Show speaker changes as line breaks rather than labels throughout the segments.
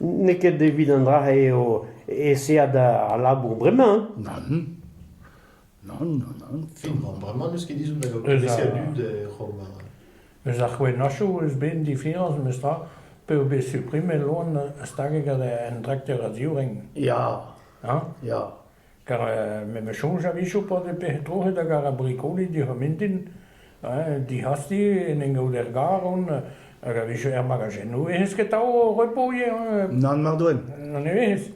N'eo ket evit an dra-se eo aeseet al labour bremañ. Nann. Nann, nann,
nann. Bremañ n'eus
ket ezhomm da gompresiñ a dud er c'homm. Eus ar
c'hwennashoù eus bet difiañs memestra p'eo bet suprimet loan stag gant un trakteur a-zivreng. Ya. Ha?
Ya.
Kar memes soñj a-wechoù pa vez pec'hed troc'het hag ar brikoni dic'hor mintin, dic'hasti en en gaout er gar on hag a-wechoù er magajennoù eh eus ket atav repo ivez. Nann mar doen.
Nann nevez.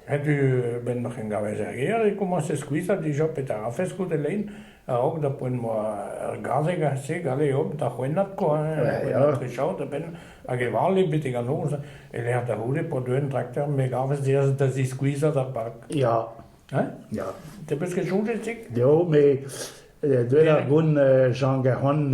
Setu 'benn ma c'hengaves er gêr e komañse skuizhañ dija petra 'rafes goude lein. A-raok da poent moa ur gazeg a-se galeomp da c'houennat kwa, c'houennat trechaod a-benn hag e vale betek an noz e-lec'h da c'houde p'o deuen trakter me gavez da ziskuizhañ d'ar park. Ya. Hein?
Ya.
Te peus ket soñjet, Zik? Jo, met
deuet ar goun Jean Garon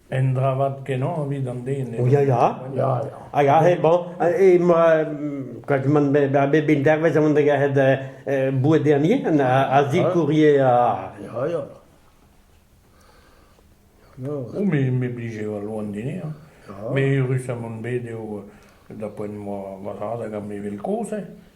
Un dra
vat kenañ evit an den. eo. Ya, ya. Ya, ya. Hag
aze, bon,
e moi, quand man be ba be ben dervez aon da garet euh, euh, boued dernier, a, a zikourier a... Ya,
ya. Non, Oh, mais, mais obligé va loin dîner. hein. Mais rus à mon bed eo da poent moi va hag a me vel kozh. hein.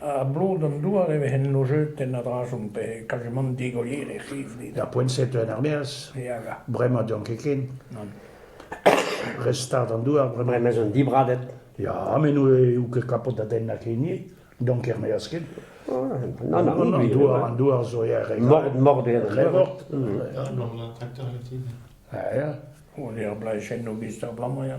A-blot
an
douar e vehen lojetenn a-dra-zont pe kajemant digolier er c'hivdi. Ar poent-se teuet er-maez,
Ya, ya. bremañ
deomp ket ken. Re
start an douar bremañ. Bremañ ez on dibradet.
Ya, met nou
eo ket kapot da den na keni, donc er-maez ket. Non, non,
An oui, douar, an
douar zo er re Mord, mord eo. Re
mort.
Ya, non, la tracteur est-il?
Ah, ya. On est ar
blanchenn au bister blanc, ya.